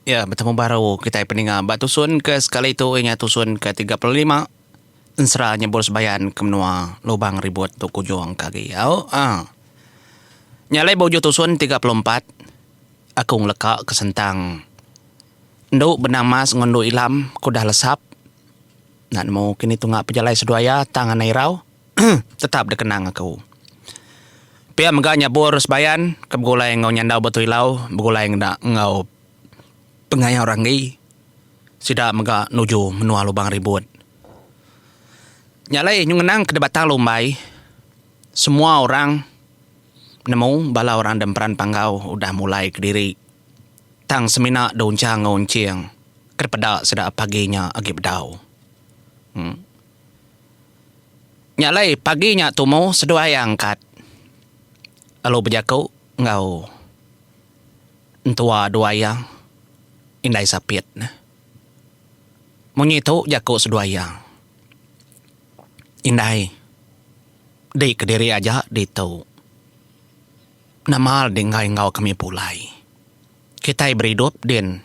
Ya, betemu baru kitai peninga ba tusun ke sekali tu iya nya tusun ke tiga puluh lima ensera nyebul sebayan ke menua Lubang Ribut tu kujung ke agi au uhh. Nya alai ba ujuh tusun tiga puluh empat aku ngeleka ke sentang endu benang emas enggau endu ilam ke udah lesap enda nemu kini tunga pejalai seduai iya tang anang irau. tetap dikenang aku. Pia mega nyabur sebayan ke begulai enggau nyandau Batu Ilau begulai ngena enggau pengayau ranggi sida mega nuju menua Lubang Ribut. Nya alai nyau ngenangka di Batang Lumbai semua orang nemu bala orang da meran panggau udah mulai kediri tang semina diunchang enggau unching ke peda sida pagi nya agi bedau. Em. Nya alai pagi nya tumu seduai angkat lalu bejaku enggau entua duai iya indai sapit ne. Munyi tu jaku seduai iya, Indai, di kediri aja ditu. Nama le dinggai enggau kami pulai. Kitai beridup din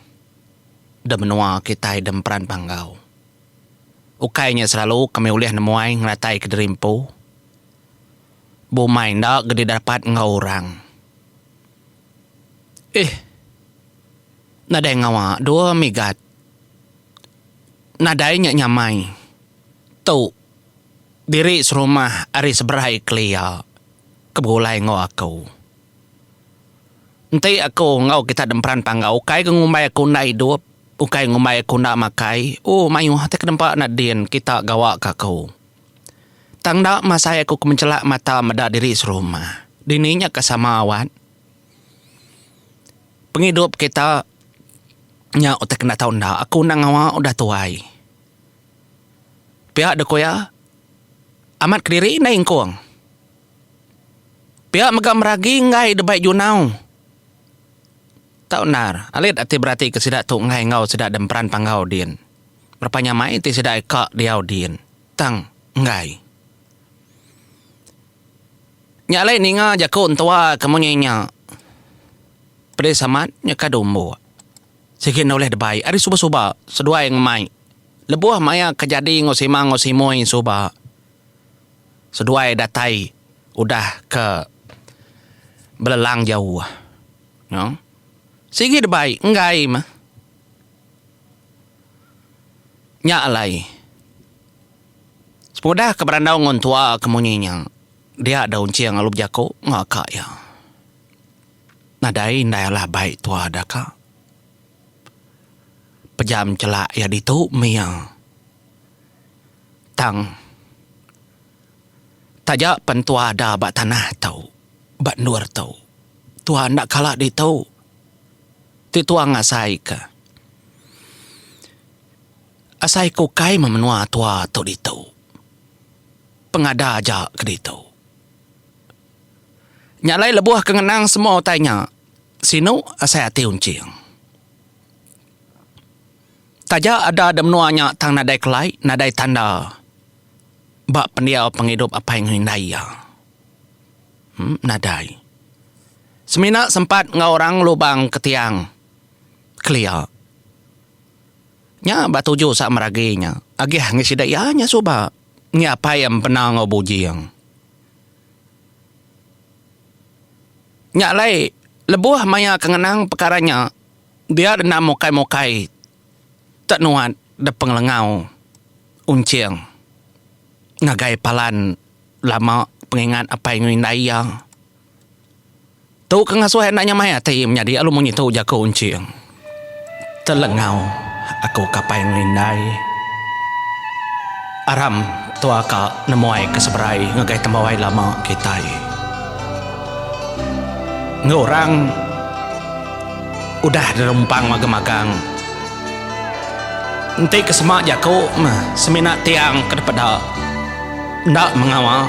da menua kitai da Emperan Panggau. Ukai nya selalu kami ulih nemuai ngerataika diri empu bumai enda gedi dapat enggau orang. Ih. Nadai ngawa dua migat. Nadai nya nyamai. Tu diri serumah ari seberai kelia ke begulai enggau aku. Enti aku enggau kita demperan panggau ukai ga ngumbai aku enda idup, ukai ngumbai aku enda makai, ooh mayuh ti kedempa enda din kita gawa ka aku. Tang enda masai aku ke menchela mata meda diri serumah. Dini nya ka sama awat. Pengidup kita nya utai ke enda tau enda, aku enda ngawa udah tuai. Pia dek ku iya, amat kediri enda ingkung. Pia mega meragi enggai dibai junau. Tau endar, alit ati beratika sida tu enggai enggau sida da emperan panggau din. Berepa nya mai ti sida ai ka diau din, tang enggai. Nya alai ninga jaku entua ke munyi nya, Pedis amat nyeka dumbuk. Sigi enda ulih dibai ari suba-suba seduai ngemai lebuh maya ke jadi enggau sima enggau simoi suba. Seduai datai udah ke belelang jauh. No. Sigi debai enggai meh. Nya alai. Semudah ke berandau ngun tua ke munyi nya, dia dau enching lalu bejaku enggau ka iya. Nadai indai alah bai tua deka pejam chelak iya ditu mih iya. Tang taja pen tua ada ba tanah tu, ba endur tu, tua enda kala ditu. Ti tua ngasaika, asai ke ukai meh menua tua tu ditu, pengada aja ke ditu. Nya alai lebuh ke ngenang semua utai nya, sinu asai ati unching. Taja ada da menua nya tang nadai kelai nadai tanda ba pendiau pengidup apai enggau indai iya. Em nadai. Semina sempat enggau orang lubang ke tiang kelia. Nya ba tuju sa meragi nya. Agih ngi sida iya nya suba ngi apai iya empena enggau bujing. Nya alai lebuh maya ke ngenang pekara nya. Dia enda mukai-mukai te nuat depengelengau Unching ngagai palan lama pengingat apai enggau indai iya. Tu ke ngasuh enda nyamai ati iya menyadi lalu munyi tu jaku Unching. Telengau aku ke apai enggau indai aram. Tua ka nemuai ke seberai ngagai tembawai lama kitai. Enggau orang udah derumpang magang-magang. Enti ke sema jaku meh semina tiang ke dipeda enda mengawa.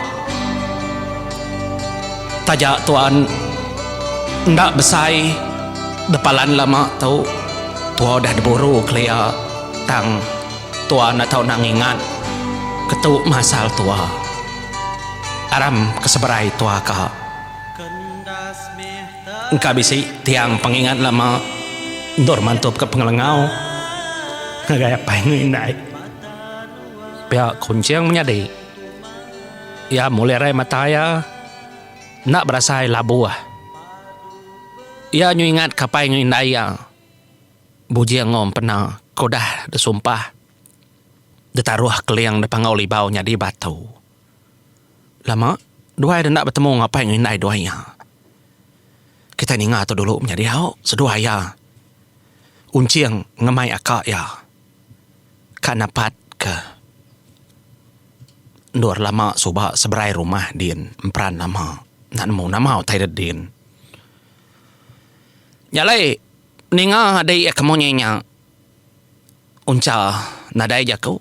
Taja tuan enda besai bepalan lama tu, tua udah diburu kelia tang. Tua enda tau nak ngingat ketu masal tua. Aram ke seberai tua ka. Engka bisi tiang pengingat lama endur mantup ke pengelengau ngagai apai enggau indai. Pia kunching menyadi iya mulih rai mata iya enda berasai labuh. Iya nyu ingat ke apai enggau indai iya. Bujing Ngom pena ke udah disumpah ditaruh Keling deka enggau Libau nyadi batu. Lama duai deh enda betemu enggau apai enggau indai duai iya. Kitai ninga tu dulu menyadi au seduai iya unching ngemai aka iya ka napat ke endur lama suba seberai rumah din emperan lama enda nemu nama utai dep din. Nya alai. Ninga adi iya ke munyi nya uncha nadai jaku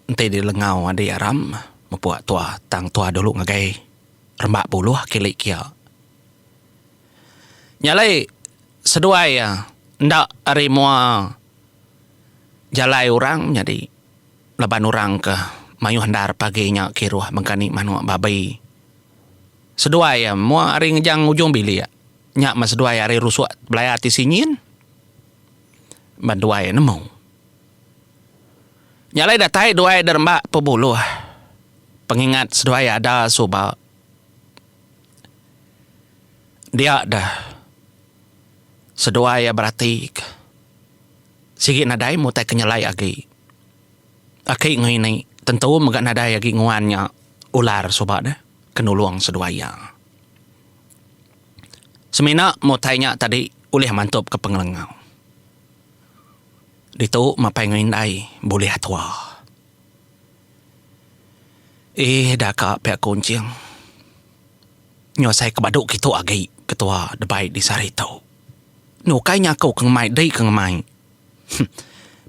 enti dilengau adi aram mepua tua tang tua dulu ngagai rembak buluh kili kia. Nya alai seduai iya enda ari mua jalai orang nyadi laban orang ke mayuh endar pagi nya kiruh mega ni manuk babi. Seduai iya mua ari ngejang ujung bilik. Nya meh seduai ari rusuk belaya ti sinyin meh duai nemu. Nya alai datai duai deremba pebuluh pengingat seduai ada suba dia deh seduai beratika sigi nadai mutai ke nyelai agi. Aki ngini tentu mega nadai agi nguan nya ular suba deh ke nulung seduai iya. Semina mutai nya tadi ulih mantupka pengelengau ditu mapai enggau indai bulih atua. Eeh daka pia ku enching. Nyau asai ke badu kitu agi ketua debai di sehari tu. Ni ukai nya aku ke ngemai dei ke ngemai.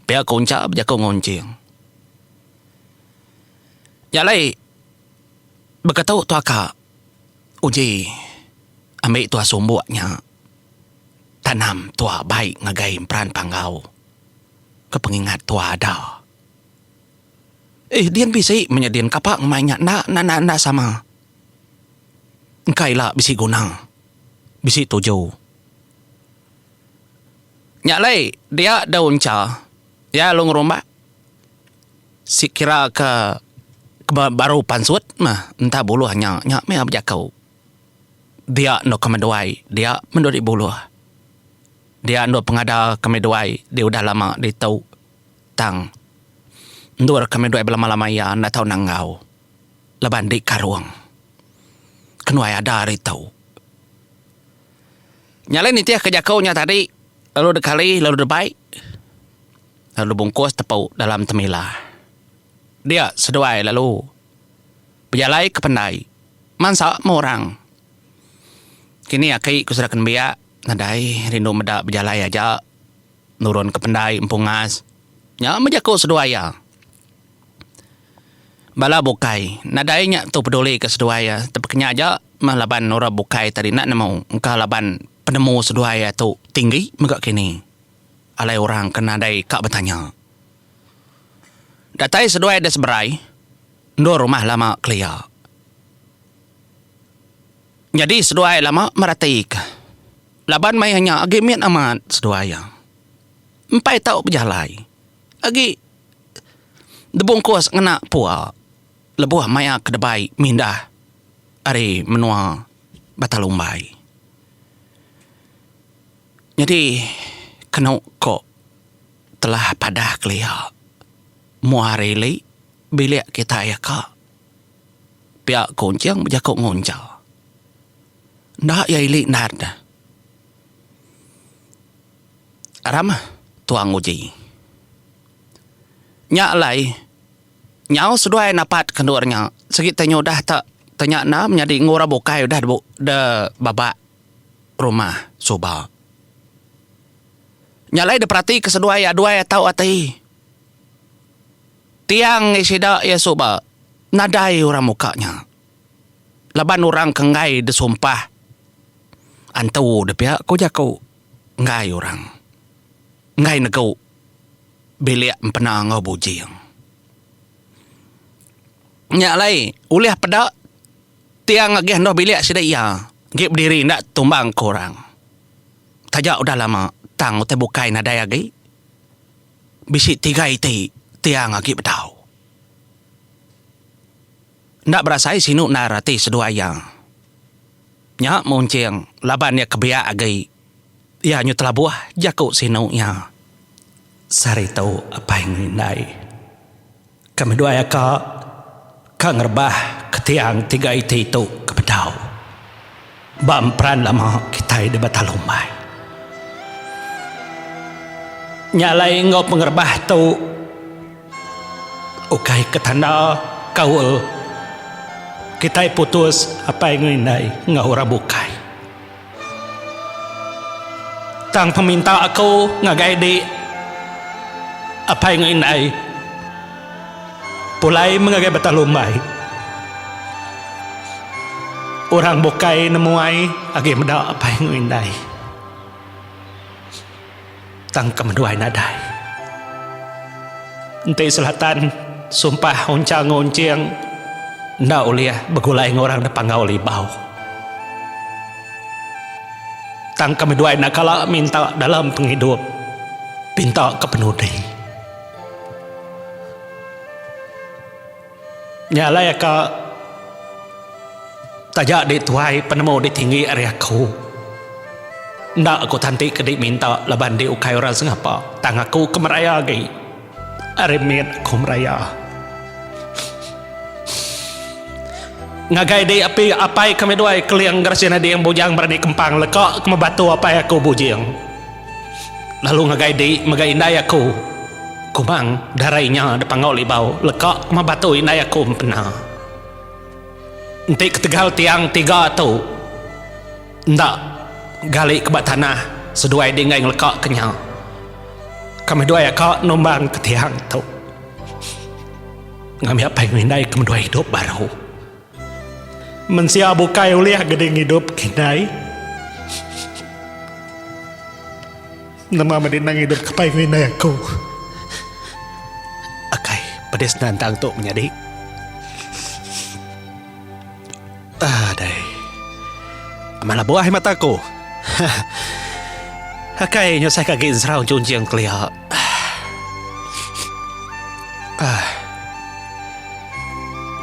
Pia ku Uncha bejaku enggau Enching. Nya alai beketu tua ka uji ambi tua sumbok nya tanam tua bai ngagai emperan panggau ke pengingat tua ada. Eh din bisi manya din kapa ngemai nya enda enda enda sama. Engka ila bisi guna bisi tuju. Nya alai dia daun cha iya lalu ngerumba sekira ke baru pansut mah entah buluh nya nya mih bejaku dia enda ke meduai dia menda agi buluh dia endur pengada ke meduai dia udah lama ditu tang endur ke meduai belama lama iya enda tau nanggau laban di karong kenuai ada ari tu. Nya alai nitihka jaku nya tadi lalu dekali lalu debai lalu bungkus tepu dalam temila. Dia seduai lalu bejalai ke pendai mansa meh orang. Kini aki ku seraka nembiak nadai rindu meda bejalai aja nurunka pendai empungas. Nya meh jaku seduai iya. Bala bukai. Nadai nya tu peduli ke seduai iya tapi kenya aja meh laban orang bukai ita dina nemu engka laban penemu seduai iya tu tinggi mega kini alai orang ke nadai ka betanya. Datai seduai da seberai endur rumah lama kelia. Nyadi seduai lama merati ka laban maya nya agi mit amat seduai iya. Empai tau bejalai. Agi dibungkus ngena pua lebuh maya ke debai mindah ari menua Batalumbai. Nyadi kenu ko telah padah kelia mua rili bilik kitai ka pia kunching bejaku nguncha enda iya ili nat. Ramah Tuang Uji. Nya alai, nyau seduai napat kendur nya, sigi tanya udah tak tanya enda menyadi enggau orang bukai udah da babak rumah suba. Nya alai diperatika seduai aduai atau ati Tiang ngi sida iya suba nadai orang muka nya laban orang ke enggai disumpah antu dipia, ku jaku. enggai orang enggai negu bilik empena enggau bujing. Nya alai ulih peda tiang agih endur bilik sida iya enggi bediri enda tumbang ke orang. Taja udah lama tang utai bukai nadai agi bisi tiga iti tiang agi bedau. Enda berasai sinu endar ati seduai iya. Nya Munching laban iya kebiak agi iya nyu telabuh jaku sinu iya. Sehari tu apai enggau indai ke meduai aka ka ngerebah ke tiang tiga iti tu ke bedau. Ba emperan lama kitai deba talumbai. Nya alai enggau pengerebah tu ukai ke tanda kaul kitai putus apai enggau indai enggau orang bukai. Tang peminta aku ngagai dik apai enggau indai. Pulai mengagai batang lumbai. Orang bukai nemuai agi meda apai enggau indai. Tang ke meduai nadai. Enti selatan sumpah unchang enggau unching enda ulih begulai enggau orang da panggau libau. Tang ke meduai enda kala minta dalam pengidup pinta ke penudi. Nya alai ka taja dek tuai penemu dek tinggi ari aku. Enda aku tanti ke dek minta laban dek ukai orang sengapa tang aku ke meraya agi. Ari mit aku meraya. Ngagai dek api apai kami duai Keling Gerasin Ading Bujang Berani Kempang leka ke mebatu apai aku Bujing. Lalu ngagai di mega indai aku kumang darai nya dipangau libau leka ma batu indai aku empena. Enti ketegal tiang tiga tu enda gali ke ba tanah seduai di enggai ngeleka ke nya kami dua aka numbang ke tiang tu ngambi apai ngemindaika menua idup baru. Mensia bukai ulih gedi ngidup indai. Nama madi endang idup ke pai enggau indai aku. Akai pedis nantang tu menyadi. Adai. Amat lebuh ai mata aku. Akai nyusahka agi enseraung chunching kelia.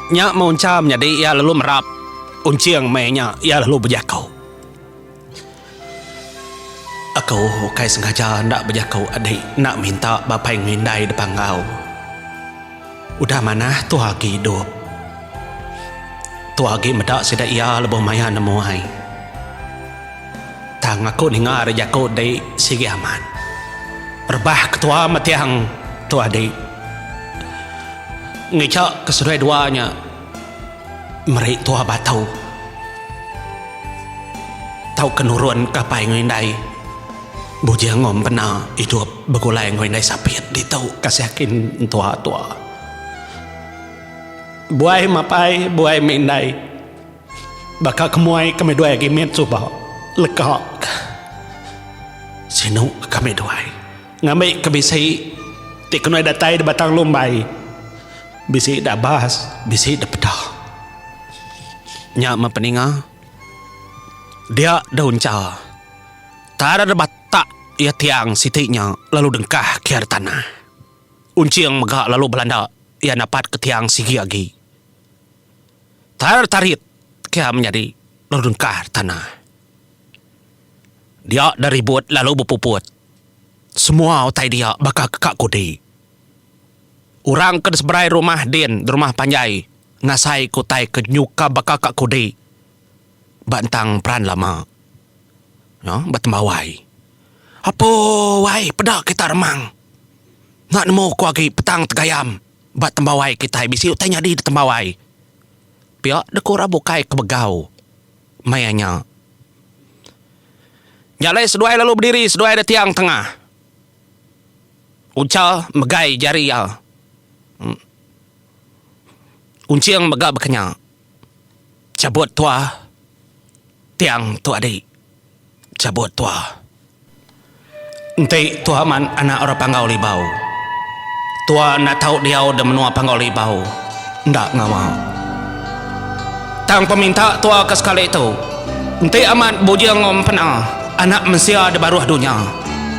Nya meh uncham nyadi iya lalu merap unching meh nya iya lalu bejaku. Aku ukai sengaja enda bejaku adi enda minta ba pai ngelindai depa enggau. Udah manah tu agi idup. Tu agi meda sida iya lebuh maya nemu ai. Tang aku ninga ari jaku di sigi amat. Rebah ketua metiang tu adi. Ngeja ke seduai dua nya meri tua batu tauka nurunka apai enggau indai. Bujing ngom pena idup begulai enggau indai sapit ditu kasih aki entua tua. Buai mapai buai meh indai. Baka ke muai kami duai agi mit suba leka ka. Sinu kami duai ngambi ke bisi ti kenuai datai di batang lumbai. Bisi da abas bisi da peda. Nya meh peninga dia da uncha. Tara deba tak iya tiang siti nya lalu dengkah kiar tanah. Unching mega lalu belanda iya napat ke tiang sigi agi. Tara tarit kiar menyadi lalu dengkah tanah. Dia da ribut lalu bepuput. Semua utai dia baka ke ka kudi. Orang ke di seberai rumah din di rumah panjai ngasai ke utai ke nyuka baka ka kudi. ba entang peran lama no ba tembawai apuuai peda kita remang enda nemu ko agi petang tegayam ba tembawai kitai bisi utai nyadi da tembawai pia da ko orang bukai ke begau maya nya nya alai seduai lalu bediri seduai da tiang tengah uncha megai jari iya unching mega ba kenya. Cabut tua tiang tu adi cabut tua. Enti tua man anak orang panggau libau. Tua enda tau diau da menua panggau libau enda ngawa. Tang peminta tua ke sekali tu enti amat bujing empena anak mensia da baruh dunya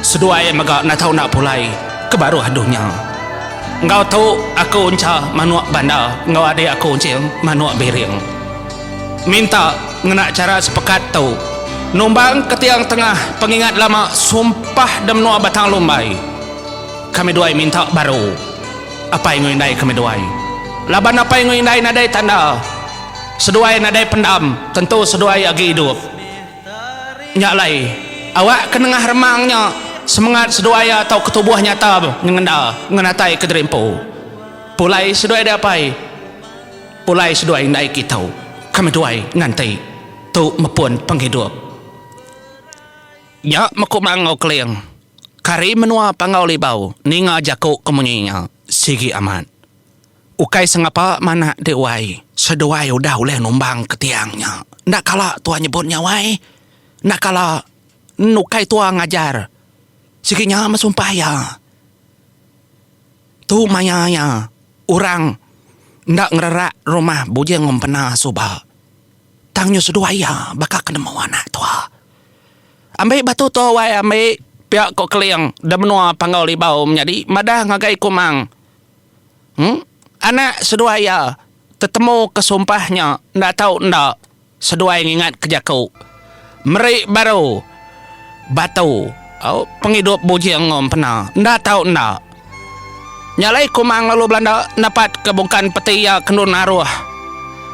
seduai mega enda tau enda pulai ke baruh dunya. Enggau tu aku encha manuk banda enggau adik aku enching manuk biring. Minta ngena chara sepekat tu numbang ketiang tengah pengingat lama sumpah da menua Batang Lumbai. Kami duai minta baru apai enggau indai kami duai. Laban apai enggau indai nadai tanda, seduai nadai pendam tentu seduai agi idup. Nya alai, awak ke nengah remang nya semengat seduai iya tau ketubuh nyata nyengenda ngenatai kediri empu. Pulai seduai deh apai, pulai seduai indai kita, kami duai nganti tu mepun penghidup. Nya meku Mangau Keling, kari menua Panggau Libau ninga jaku ke munyi nya sigi amat. Ukai sengapa manah deh wai, seduai udah ulih numbang ke tiang nya. Enda kala tua nyebut nya wai. Enda kala en ukai tua ngajar sigi nya meh sumpah iya. Tu maya iya orang enda ngererak rumah bujing empena suba. Tang nyu seduai iya baka ke nemu anak tua. Ambi batu tu wai ambi pia ko Keling da menua Panggau Libau menyadi madah ngagai Kumang. Anak seduai iya tetemu ke sumpah nya enda tau enda seduai ngingat ke jaku meri baru batu pengidup bujing enggau empena enda tau enda. Nya alai kumang lalu belanda napat ke bungkan peti iya ke endun aruh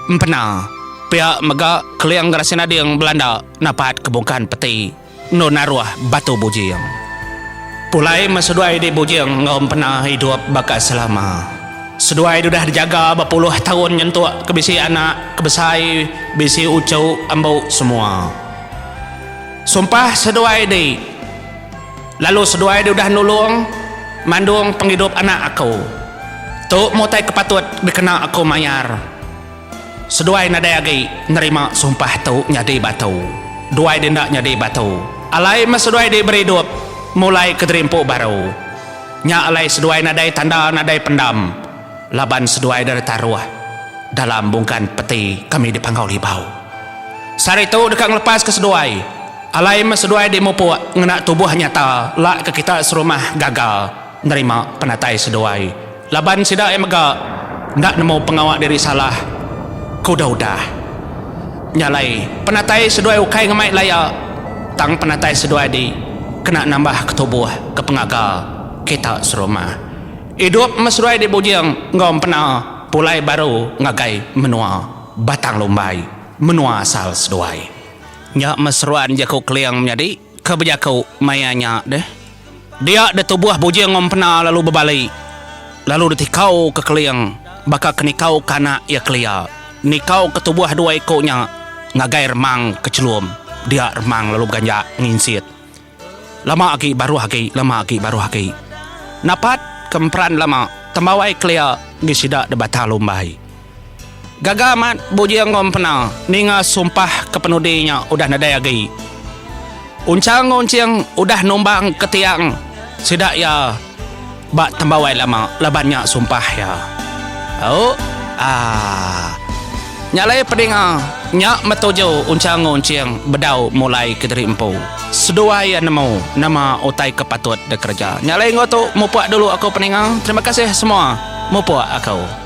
empena pia mega Keling Gerasi Nading belanda napat ke bungkan peti. Endo naruh batu bujing. Pulai meh seduai di bujing enggau empena idup baka selama. Seduai dudah dijaga bepuluh taun nyentuk ke bisi anak ke besai bisi uchu embu semua. Sumpah seduai di lalu seduai dudah nulung mandung pengidup anak aku. Tu mutai ke patut dikena aku mayar. Seduai nadai agi nerima sumpah tu nyadi batu. Duai di enda nyadi batu. Alai meh seduai diberi idup mulai ke gerimpu baru. Nya alai seduai nadai tanda nadai pendam laban seduai deka ditaruh dalam bungkan peti kami di Panggau Libau. Sehari tu deka ngelepaska seduai. Alai meh seduai dimupuk ngena tubuh nyata lak ke kita serumah gaga nerima penatai seduai. Laban sida ai mega enda nemu pengawa diri salah ke udah-udah. Nya alai, penatai seduai ukai ngemai laya, tang penatai seduai di kena nambah ke tubuh ke pengaga kita serumah. Idup meseduai di bujing enggau empena pulai baru ngagai menua Batang Lumbai, menua asal seduai. Nya meseruan jaku Keling menyadi. Ke bejaku maya nya deh. Dia deh tubuh Bujing ngempena lalu bebali lalu ditikau ke keling baka ke nikau ke anak iya kelia. Nikau ke tubuh dua iku nya ngagai Remang ke chelum dia Remang lalu beganjak nginsit. Lama agi baruh agi lama agi baruh agi. Napat ke emperan lama tembawai kelia ngi sida deh bata lumbai. Gaga amat bujing enggau empena ninga sumpah ke penudi nya udah nadai agi. Unchang enggau Unching udah numbang ke tiang sida iya ba tembawai lama laban nya sumpah iya. Ooh aah. Nya alai pedinga nya metuju Unchang enggau Unching bedau mulai ke diri empu. Seduai iya nemu nama utai ke patut dikereja. Nya alai enggau tu mupuk dulu aku peninga. Terima kasih semua mupuk aku.